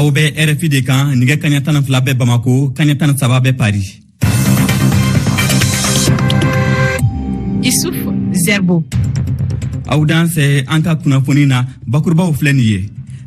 aw bɛ rfi de kan nɛgɛ kanɲɛ tan ni fila bɛ bamako kanɲɛ tan ni saba bɛ paris Isuf Zerbo. Aw dansɛ an ka kunnafoni na bakurubaw filɛ nin ye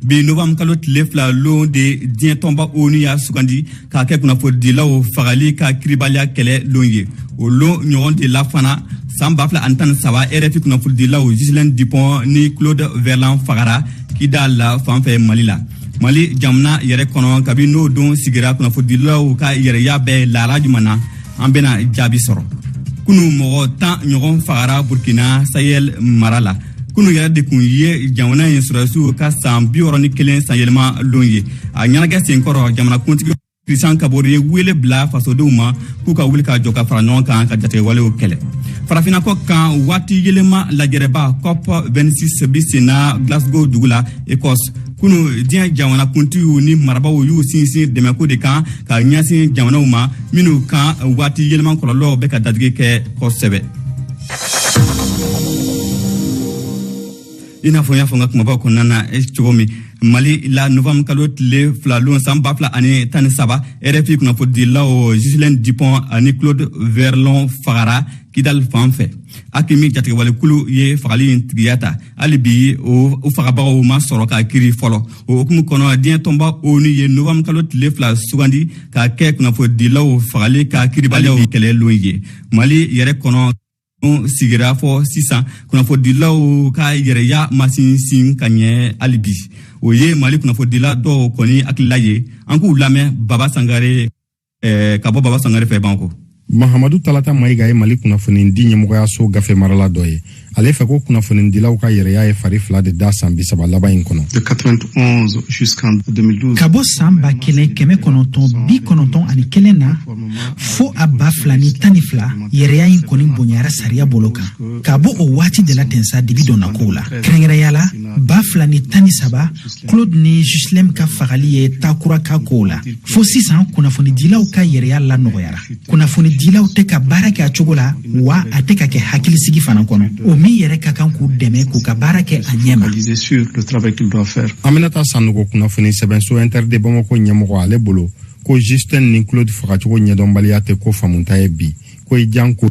bi novanburu kalo tile fila lon de diɲɛ tɔnba onu y'a sugandi k'a kɛ kunnafonidilaw fagali ka kiribaliya kɛlɛ lon ye o lon ɲɔgɔn de la fana san ba fila ani tan ni saba rfi kunnafonidilaw ghislaine dupont ni claude verlon fagara kidal fan fɛ mali la mali jamana yɛrɛ kɔnɔ kabin'o don sigira kunnafonidilaw ka yɛrɛya bɛ lahala juman na an bena jaabi sɔrɔ kunu mɔgɔ tan ɲɔgɔn fagara burkina sahel mara la kunu yɛrɛ de tun ye jamana in sɔrɔdasiw ka saan biwɔɔrɔ ni kelen sanyɛlɛma lon ye a ɲɛnagɛ senkɔrɔ jamanakuntigi Christian Kabore ye wele bila fasodenw ma k'u ka wuli ka jɔ ka fara ɲɔgɔn kan ka jatigɛwalew kɛlɛ farafina kɔkan waati yɛlɛma lajɛrɛba cop 26 bi senna glasgow dugu la ecosse kunu diɲɛ jamanakuntigiw ni marabaw y'u sinsin dɛmɛko de kan ka ɲɛsin jamanaw ma minnu kan waati yɛlɛma kɔlɔlɔw bɛ ka dadigi kɛ kosɛbɛ i n'a fɔ n y'a fɔ n ka kumabaw kɔnɔna na eh, cogo min mali la novambre kalo tile fila lon san ba fila ani tan ni saba rfi kunnafonidilaw ghislaine dupont ani claude verlon fagara kidal fan fɛ aqmi jatigɛwalekulu ye fagali in tigiya ta hali bi u fagabagaw ma sɔrɔ ka kiri fɔlɔ o hukumu kɔnɔ diɲɛ tɔnba onu ye novambre kalo tile fila sugandi k'a kɛ kunnafonidilaw fagali ka kiribaliyaw kɛlɛ lon ye mali yɛrɛ kɔnɔ sigira fɔ sisan kunnafonidilaw ka yɛrɛya ma sinsin ka ɲɛ hali bi o ye mali kunnafonidila dɔw kɔni hakilila ye an k'u lamɛn baba sangare eh, ka bɔ baba sangare fɛ bamako mahamadu talata mayiga ye mali kunnafonidi ɲɛmɔgɔyaso gafe marala dɔ ye ale fɛ ko kunnafonidilaw ka yɛrɛya ye fari fila de da san bisaba laban in kɔnɔ ka bɔ saan ba kelen kɛmɛ kɔnɔntɔn bi kɔnɔntɔn ani kelen na fo a ba fila ni tan ni fila yɛrɛya in kɔni bonyara sariya bolo kan ka bɔ o waati de la ten sa dibi donna kow la kɛrɛnkɛrɛnya la ba fila ni tan ni saba claude ni ghislaine ka fagali ye ta kura k'a kow la fo sisan kunnafonidilaw ka yɛrɛya lanɔgɔyara kunnafonidilaw tɛ ka baara kɛ a cogo la wa a tɛ ka kɛ hakilisigi fana kɔnɔ o min yɛrɛ ka kan k'u dɛmɛ k'u ka baara kɛ a ɲɛma aminata sanogo kunnafoni sɛbɛnso inter de bamako ɲɛmɔgɔ ale bolo ko ghislaine ni claude fagacogo ɲɛdɔnbaliya tɛ ko faamuta ye bi ko i jan ko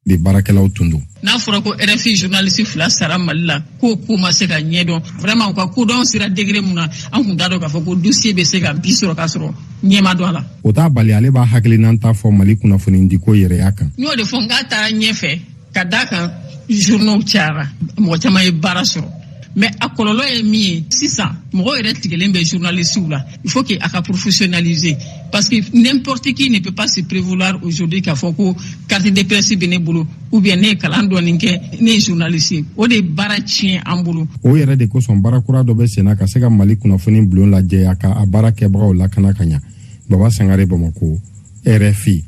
de baarakɛlaw tun don n'a fɔra ko rfi journaliste fila sara mali la k'o ko ma se ka ɲɛdɔn vraiment u ka kodɔn sira degré mun na an kun t'a dɔn k'a fɔ ko dossier bɛ se ka bi sɔrɔ k'a sɔrɔ ɲɛ ma dɔn a la o t'a bali ale b'a hakilinan ta fɔ mali kunnafonidiko yɛrɛya kan n y'o de fɔ n k'a taara ɲɛfɛ ka d'a kan journaux cayara mɔgɔ caman ye baara sɔrɔ mais a kɔlɔlɔ ye min ye sisan mɔgɔ yɛrɛ tigɛlen bɛ journalistew la il faut que a ka professionnaliser parce que n'importe qui ne peut pas se prévaloir aujourd'hui k'a fɔ ko carte de presse bɛ ne bolo ou bien ne ye kalan dɔɔni kɛ ne ye journaliste ye o de ye baara tiɲɛ an bolo o yɛrɛ de kosɔn baara kura dɔ bɛ senna ka se ka mali kunnafoni bulon lajɛya ka a baara kɛbagaw lakana ka ɲa baba sangare bamako rfi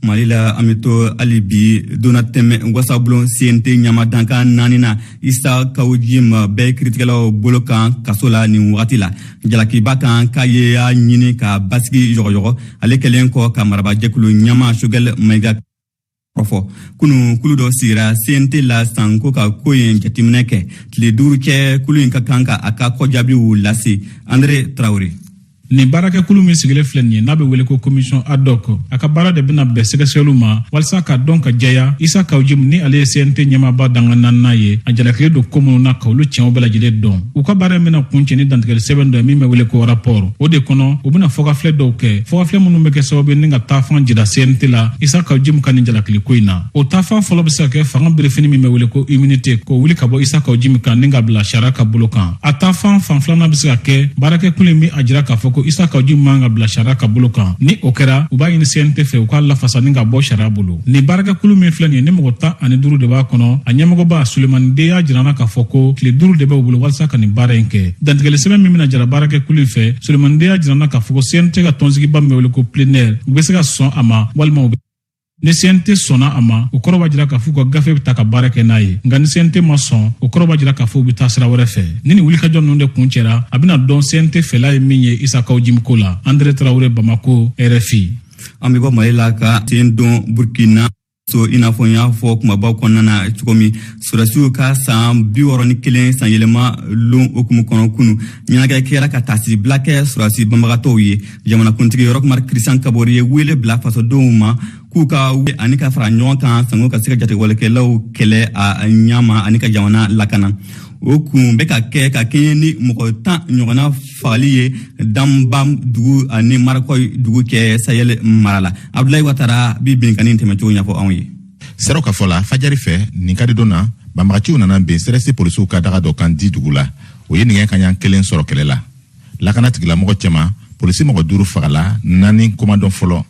mali la an bɛ to hali bi donnatɛmɛ wasabulon cnt ɲama dankan naaninan isa kawjim bɛ kiritigɛlaw bolo kan kaso la nin wagati la jalakiba kan k'a ye a ɲini ka basigi yɔgɔyɔgɔ ale kɛlen kɔ ka marabajɛkulu ɲama choguel maïga kɔfɔ kunu kulu dɔ sigira cnt la sanko ka ko in jateminɛ kɛ tile duuru cɛ kulu in ka kan ka a ka kɔjaabiw lase andre tarawele Nin baarakɛkulu min sigilen filɛ nin ye n'a bɛ wele ko commission ad hoc a ka baara de bɛna bɛn sɛgɛsɛgɛliw ma walisa k'a dɔn k'a jɛya Isa Kawjim ni ale ye CNT ɲɛmaaba dankan naaninan ye a jalakilen don ko minnu na ka olu tiɲɛw bɛɛ lajɛlen dɔn u ka baara in bɛna kuncɛ ni dantigɛli sɛbɛn dɔ ye min bɛ wele ko rapport o de kɔnɔ u bɛna fɔkafilɛ dɔw kɛ fɔkafilɛ minnu bɛ kɛ sababu ye ni ka taafan jira CNT la Isa Kawjim ka nin jalakiliko in na o taafan fɔlɔ bɛ se ka kɛ fanga berefini min bɛ wele ko immunité k'o wuli ka bɔ isa kaw jimi kan ni ka bila sariya ka bolo kan a taafan fan filanan bɛ se ka kɛ baarakɛkulu in bɛ a jira k'a fɔ ko isa kaw jimi man ka bila sariya ka bolo kan ni o kɛra u b'a ɲini cnt fɛ u k'a lafasa ni ka bɔ sariya bolo nin baarakɛkulu min filɛ nin ye ni mɔgɔ tan ani duuru de b'a kɔnɔ a ɲɛmɔgɔba sulemani de y'a jirana k'a fɔ ko tile duuru de bɛ u bolo walisa ka nin baara in kɛ dantigɛli sɛbɛn min bɛna jira baarakɛkulu in fɛ sulemani de y'a jirana k'a fɔ ko cnt ka tɔnsigiba min bɛ wele ko plénière u bɛ se ka sɔn a ma walima u bɛ ni CNT sɔnna a ma o kɔrɔ b'a jira k'a fɔ u ka gafe bɛ ta ka baara kɛ n'a ye nka ni CNT ma sɔn o kɔrɔ b'a jira k'a fɔ u bɛ taa sira wɛrɛ fɛ ni nin wulikajɔ ninnu de kuncɛra a bɛna dɔn CNT fɛla ye min ye isa kaw jimi ko la Andre Tarawele Bamako RFI an bɛ bɔ mali la ka sen don burkina so i n'a fɔ n y'a fɔ kumabaw kɔnɔna na cogo min sɔrɔdasiw ka saan bi wɔrɔ ni kelen sanyɛlɛma lon hukumu kɔnɔ kunu ɲɛnajɛ kɛra ka taasibila kɛ sɔrɔdasi banbagatɔw ye jamanakuntigi roch marc christian kaboré ye wele bila fasodenw ma k'u ka wuli ani ka fara ɲɔgɔn kan sango ka se ka jatigɛwalekɛlaw kɛlɛ a ɲama ani ka jamana lakana o kun bɛ ka kɛ ka kɛɲɛ ni mɔgɔ tan ɲɔgɔnna fagali ye dambam dugu ani markoye dugu cɛ sahel mara la abdulayi watara bi binkanni tɛmɛcogo ɲɛfɔ anw ye seerew ka fɔ la fajari fɛ nin kari don na banbagaciw nana bin crs polisiw ka daga dɔ kan di dugu la o ye nɛgɛ kanɲa kelen sɔrɔ kɛlɛ la lakana tigilamɔgɔ cɛma polisi mɔgɔ duuru fagala naani ko ma dɔn fɔlɔ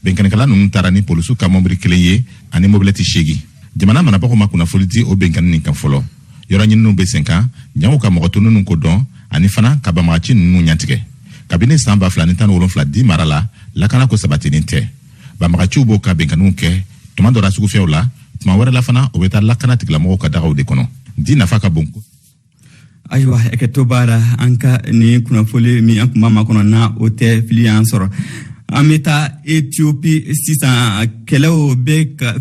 bɛnkannikɛla ninnu taara ni polisiw ka mɔbili kelen ye ani mobilɛti seegin jamana marabagaw ma kunnafoli di o bɛnkanni nin kan fɔlɔ yɔrɔ ɲininiw bɛ sen kan jango ka mɔgɔ tɔ ninnu ko dɔn ani fana ka banbagaci ninnu ɲantigɛ kabini san ba fila ni tan ni wolonfila di mara la lakana ko sabatinin tɛ banbagaciw b'o ka bɛnkanniw kɛ tuma dɔ la sugufiyɛw la tuma wɛrɛ la fana o bɛ taa lakana tigilamɔgɔw ka dagaw de kɔnɔ di nafa ka bon ayiwa hakɛto b'a la an ka nin kunnafoli min an tun b'a makɔnɔ na o tɛ fili y'an sɔrɔ an bɛ taa etiopi sisan kɛlɛw bɛ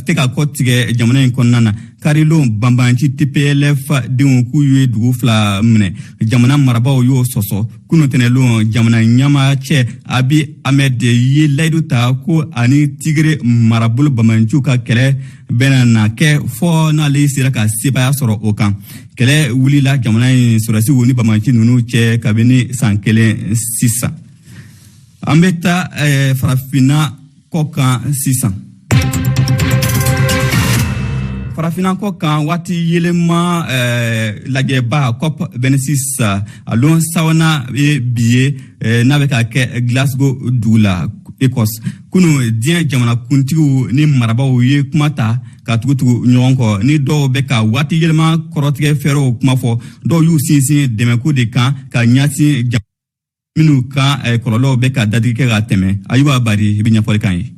tɛ ka kɔtigɛ jamana in kɔnɔna na karilon banbanci tplf denw k'u ye dugu fila minɛ jamana marabaw y'o sɔsɔ kunu tɛnɛlon jamana ɲɛma cɛ abi ahmed ye layidu ta ko a ni tigere marabolo banbanciw ka kɛlɛ bɛna na kɛ fɔɔ n'ale sera ka sebaaya sɔrɔ o kan kɛlɛ wulila jamana in sɔrɔdasiw ni banbanci ninnu cɛ kabini san kelen sisan an bɛ taa eh, farafinna kɔ kan sisan farafinna kɔ kan waati yɛlɛma eh, lajɛba cop 26 a lon sabanan ye bi ye Eh, n'a bɛ ka kɛ glasgow dugu la ecosse kunu diɲɛ jamanakuntigiw ni marabaw ye kuma ta ka tugutugu ɲɔgɔn kɔ ni dɔw bɛ ka waati yɛlɛma kɔrɔtigɛ fɛɛrɛw kuma fɔ dɔw y'u sinsin dɛmɛko de kan ka ɲasin minnu ka eh, kɔlɔlɔw bɛ ka dadigi kɛ ka tɛmɛ ayuba bari i bɛ ɲɛfɔli k'an ye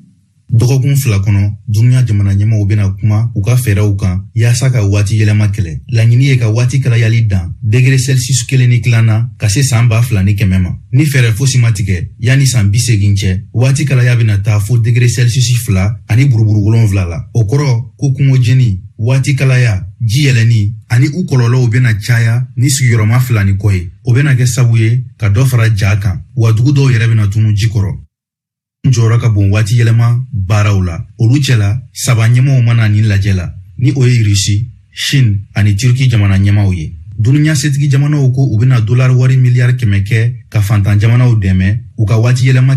Dɔgɔkun fila kɔnɔ dunuya jamana ɲɛmaw bɛna kuma u ka fɛɛrɛw kan yaasa ka waati yɛlɛma kɛlɛ laɲini ye ka waati kalayali dan degere celsius kelen ni tilan na ka se saan ba fila ni kɛmɛ ma ni fɛɛrɛ fosi ma tigɛ yanni saan bi seegin cɛ waati kalaya bɛna taa fo degere celsius fila ani buruburu wolonfila la o kɔrɔ ko kungo jeni waati kalaya ji yɛlɛni ani u kɔlɔlɔw bɛna caya ni sigiyɔrɔma fila ni kɔ ye o bɛna kɛ sabu ye ka dɔ fara jaa kan wa dugu dɔw yɛrɛ bɛna tunu ji kɔrɔ n jɔyɔrɔ ka bon waati yɛlɛma baaraw la olu cɛla saba ɲɛmaw ma na nin lajɛ la ni o ye rusi chine ani turki jamana ɲɛmaw ye dunuya setigi jamanaw ko u bɛna dolari wari miliyari kɛmɛ kɛ ka fantan jamanaw dɛmɛ u ka waati yɛlɛma